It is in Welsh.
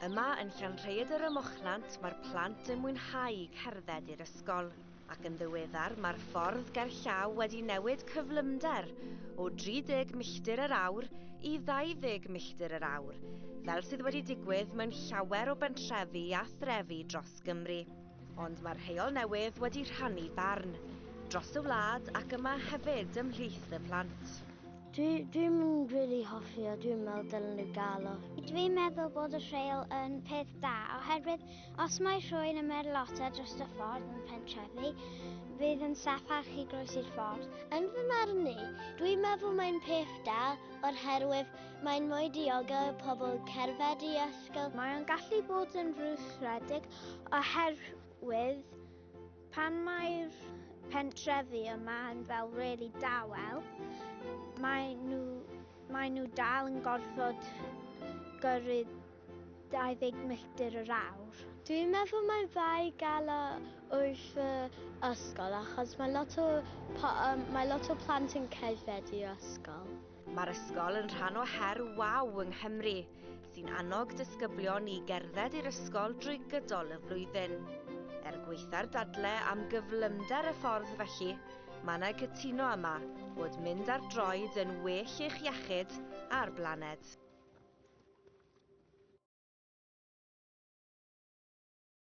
Yma yn Llanrhaeadr ym Mochnant mae'r plant yn mwynhau cerdded i'r ysgol, ac yn ddiweddar mae'r ffordd gerllaw wedi newid cyflymder o 30 milltir yr awr i 20 milltir yr awr, fel sydd wedi digwydd mewn llawer o bentrefi a threfi dros Gymru. Ond mae'r rheol newydd wedi rhannu barn dros y wlad ac yma hefyd ymhlith y plant. Dwi, dwi'n mynd really hoffi o, dwi'n meddwl dylen nhw gael o. Dwi'n meddwl bod y rheol yn peth da, oherwydd os mae rhywun yn merlota dros y ffordd yn pentrefi, bydd yn saffach i groesi'r ffordd. Yn fy marn ni, dwi'n meddwl mae'n peth da o'r herwydd mae'n mwy diogel y pobl cerdded i ysgol. Mae'n gallu bod yn frwsredig oherwydd Pan mae'r pentrefi yma yn fel really dawel, mae nhw, mae nhw dal yn gorfod gyrru 20 milltir yr awr. Dwi'n meddwl mae'n dda i gael o wrth y ysgol achos mae lot o, mae lot o plant yn cerdded i'r ysgol. Mae'r ysgol yn rhan o her waw yng Nghymru, sy'n annog disgyblion i gerdded i'r ysgol drwy gydol y flwyddyn. Er gweitha'r dadle am gyflymder y ffordd felly, mae yna cytuno yma bod mynd ar droed yn well i'ch iechyd a'r blaned.